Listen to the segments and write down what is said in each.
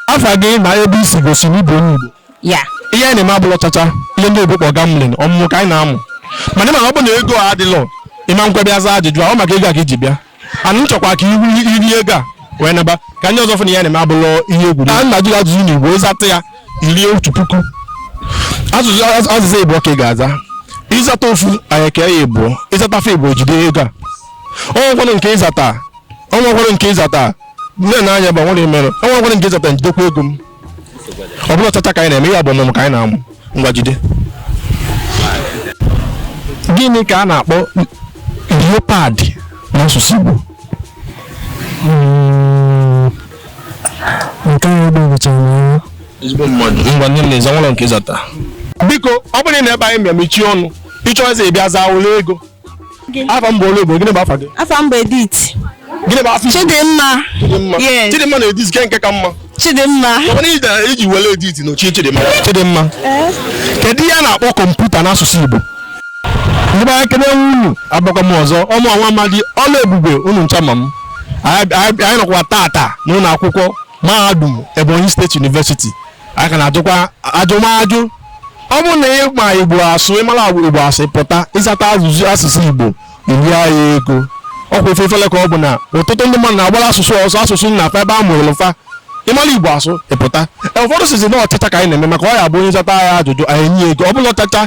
afa gị na ebe i si gosi na ị bụ onye Igbo ya ihe anyị na-eme abụlọ chacha ihe ndị Igbo kpọ gambling ọmụmụ ka anyị na-amụ mana ị ma na ọ bụ na ego a adịlọ ị ma nkwe bịa zaa ajụjụ ahụ maka ego a ka i ji bịa ana m achọkwa ka ihu iri ego a wee naba ka ndị ọzọ fụ na ihe na-eme abụlọ ihe egwu na nna jụrụ ajụjụ na Igbo ị zata ya i rie otu puku ajụjụ asụsụ Igbo ka ị ga-aza ị zata ofu anyị kee ya ịbụọ ị zata fa ịbụọ jide ego a o nwekwanụ nke ị zata o nwekwara nke ị zata nne na anya bụ nwere mere o nwekwara nke ị zata m jidekwa ego m ọ bụlọ chacha ka anyị na-eme ya bụ ọmụmụ ka anyị na-amụ ngwa jide gịnị ka a na-akpọ leopard n'asụsụ Igbo nke ahụ gbagwochara m anya ezigbo mmadụ ngwa nne m na-eze nwere nke ị zata biko ọ bụrụ na ebe anyị ma mechie ọnụ ị chọzie ị bịa zaa welu ego afa m bụ olu igbo gịnị bụ afa gị afa m bụ Edith gịnị bụ afa igbo chidimma Chidimma. Yes. Chidimma na Edith nke nke ka mma chidimma mana ị dara iji were Edith nochie Chidimma Chidimma kedu ihe a na-akpọ computer n'asụsụ Igbo ndị be anyị kelee unu abịakwa m ọzọ ọ mụ nwa amadi ọla ebube unu ncha ma m anyị anyị- anyị nọkwa tata n'ụlọ akwụkwọ mahadum Ebonyi State University anyị ka na-ajụkwa ajụmajụ ọ bụrụ na ị ma igbo asụ ị mara igbo asụ ị pụta ị zata ajụjụ asụsụ igbo i rie ya ego ọkwa ife ifele ka ọ bụ na ọtụtụ ndị mmadụ na-agbara asụsụ ọsọ asụsụ nna fa ebe a mụrụ fa ị mara igbo asụ ị pụta e, ụfọdụ sịzị na ọ chacha ka anyị na-eme maka ọ ya bụ onye zata ya ajụjụ anyị nye ego ọ bụlọ chacha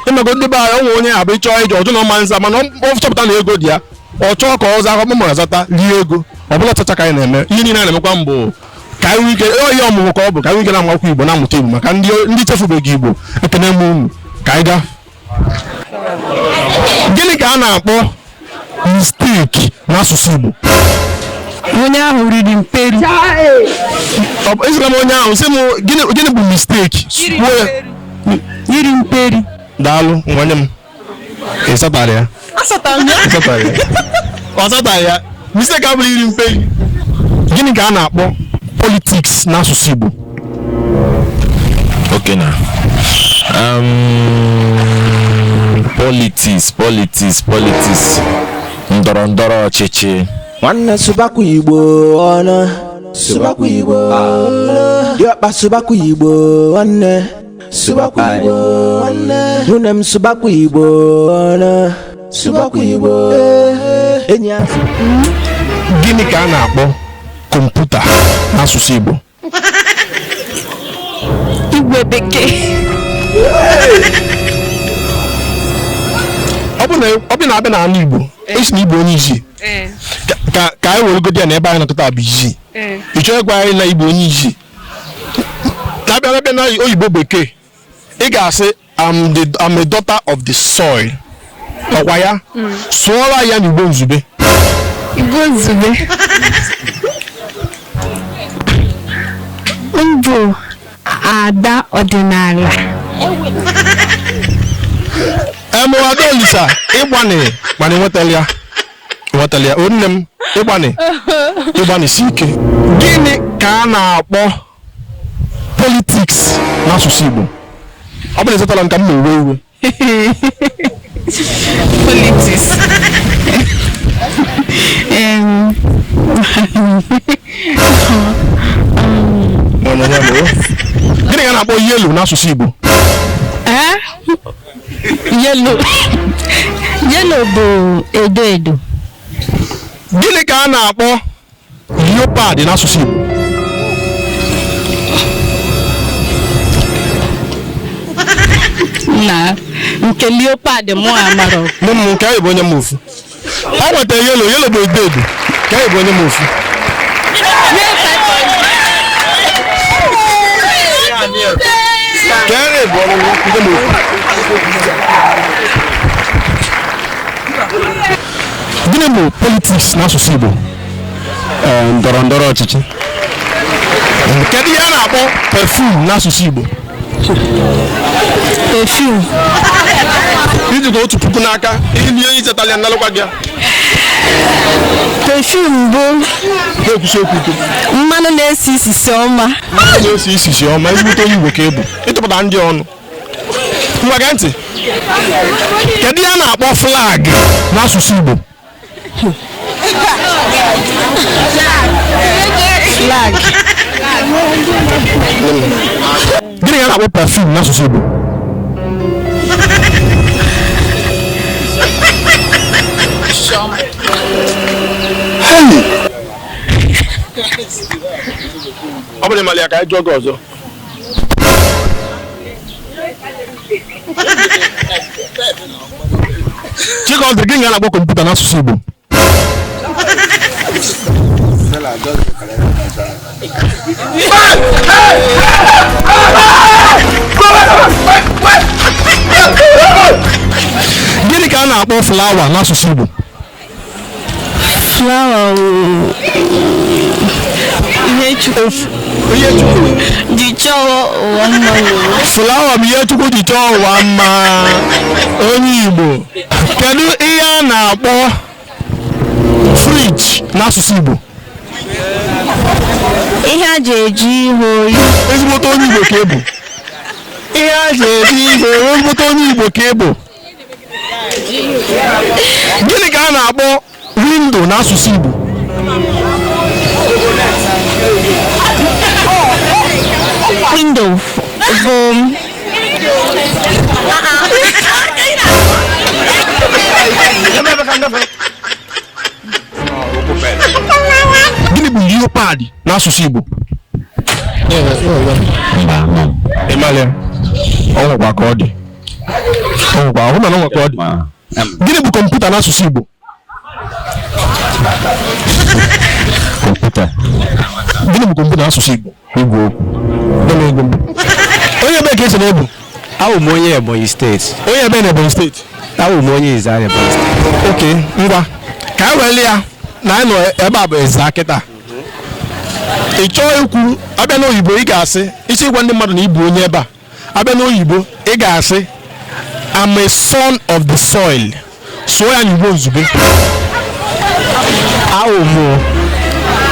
ị mago ndị be anyị o nwe onye a bụ ị chọọ ije ọ jụ na ọ ma nza mana ọ chọpụta na ego dị ya ọ chọọ ka ọ zaa akpakpọ ma zata rie ego ọ bụlọ chacha ka anyị na-eme ihe niile na-emekwanụ bụ ka anyị nwee ike oyi ọmụmụ ka ọ bụ ka anyị nwee ike na-amakwa igbo na-amụta igbo maka ndị ndị chefubeghị igbo ekene m unu ka anyị gaa gịnị ka a na-akpọ mistake n'asụsụ igbo onye ahụ riri mperi Ọ bụ- asịrọ m onye ahụ asị m gịnị gịnị bụ mistake Kwuo ya. iri mperi daalụ nwanne m Ị zatara ya? Azatara m ya. Ị zatara ya? Ọ zatara ya? Mistake abụrụ iri mperi. Gịnị ka a na-akpọ politics n'asụsụ Igbo? Okay na. Um, politics, politics, politics. Ndọrọ ndọrọ ọchịchị. nwanne sụbakwa igbo ọnụ sụbakwa igbo ọnụ diọkpa sụbakwa igbo nwanne sụbakwa igbo nwanne nwunye m sụbakwa igbo ọnụ sụbakwa igbo enyi ya gịnị ka a na-akpọ kọmputa n'asụsụ igbo igwe bekee ọ bụ na ọ bụ na a bịa n'ala igbo a sị na igbo enwe eze ka ka anyị weregodi ya na ebe anyị nọkọta bụ isi ị chọghị ịgwa anyị na igbo enwe eze ka a bịara bịa na oyibo bekee ị ga-asị I'm the I'm a daughter of the soil ọ kwa ya sụọra ya n'igbo nzube Igbo nzube m bụ ada ọdịnala emụada olisa ị gbanị mana i nwetala ya nwetara ya o nne m ị gbanị ị gbanịsi ike gịnị ka a na-akpọ politiks n'asụsụ Igbo ọ bụ na ezitara m ka m na-ewe iwe politiks gịnị ka a na-akpọ yelo n'asụsụ Igbo yelo yelo bụ edo edo gịnị ka a na-akpọ leopard n'asụsụ Igbo na nke leopard mụ amarọ nne m nke anyị bụ onye mmofu o nweta yelo yelo bụ edo edo ka anyị bụ onye m ofu ka anyị bụ ọrụ ndị m ofu gịnị bụ politiks n'asụsụ igbo ndọrọ ndọrọ ọchịchị kedu ihe a na-akpọ perfume n'asụsụ igbo perfume i jikwa otu puku n'aka i lie ihe i chetala ya nalụkwa gị ya perfume bụ na-ekwusi okwu ike mmanụ na-esi isisi ọma mmanụ na-esi isisi ọma ezigbote onye igbo ka ị bụ ị tụpụta ndị ọnụ ngwa gee ntị kedu ihe a na-akpọ flag n'asụsụ igbo Flag. gịnị ka a na-akpọ perfume n'asụsụ igbo Hey! ọ bụrụ na ị malụ ya ka anyị jụọ gị ọzọ Chikọdị gịnị ka a na-akpọ kọmputa n'asụsụ Igbo gịnị ka a na-akpọ flawa n'asụsụ Igbo flawa ihe chukwu ji chọọ ụwa mma flawa bụ ihe chukwu ji chọọ ụwa mma onye igbo kedu ihe a na-akpọ friji n'asụsụ igbo ihe e ji ajụ ihe oyi ezigbote onye igbo ka ị bụ ihe e ji ajụ ihe oyi ezigbote onye igbo ka ị bụ gịnị ka a na-akpọ windo n'asụsụ Igbo windo bụ gịnị bụ leopard n'asụsụ Igbo ịmalị ọ nwekwa ka ọ dị gịnị bụ kọmputa n'asụsụ Igbo kọmputa gịnị bụ kọmputa n'asụsụ Igbo igwe okwu onye ebee ka ị sị na ị bụ awụ m onye Ebonyi steeti onye ebee na Ebonyi steeti awụ m onye Ezza area Ebonyi steeti okay ngwa ka e were ya na anyị nọ ebe a bụ Ezza kịta ị chọọ ikwu a bịa n'oyibo ị ga-asị isi ịgwa ndị mmadụ na ị bụ onye ebe a a bịa n'oyibo ị ga-asị I'm a son of the soil sụọ ya n'igbo nzube awụ m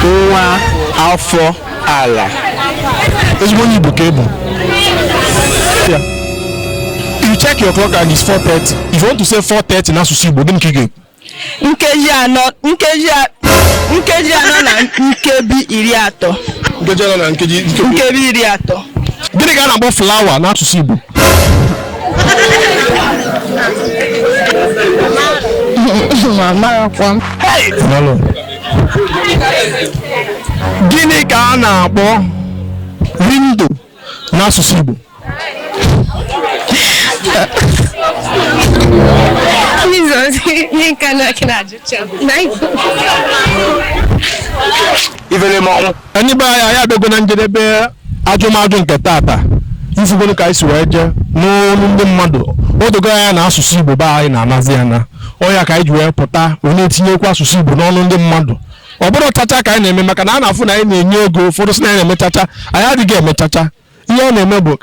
nwa afọ ala ezigbo onye igbo ka ị bụ you check your clock and it's 4:30 if you want to say 4:30 n'asụsụ igbo gịnị ka ị ga-ekwu nkeji anọ nkeji a- nkeji anọ na nkebi iri atọ nkeji anọ na nkeji nkebi nkebi iri atọ gịnị ka a na-akpọ flawa n'asụsụ igbo gịnị ka a na-akpọ windo n'asụsụ Igbo ifele mọnwụ ndị be anyị anyị abịago na njedebe ajụmajụ nke tata ị fụgoro ka anyị si wee jee n'ọnụ ndị mmadụ o dogo anya na asụsụ Igbo be anyị na-anazi ana ọ ya ka anyị ji wee pụta wee na-etinyekwu asụsụ Igbo n'ọnụ ndị mmadụ ọ bụrọ chacha ka anyị na-eme maka na a na-afụ na anyị na-enye ego ụfọdụ sị na anyị na-eme chacha anyị adịghị eme chacha ihe anyị na-eme bụ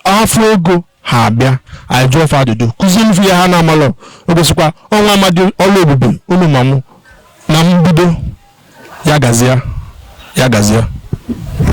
a fụ ego ha abịa anyị jụọ fa ajụjụ kụzie fa ihe ha na-amalụ o gosikwa ọnwa amadi ọlụ ebube unu ma mụ na mbido ya gazie ya gazie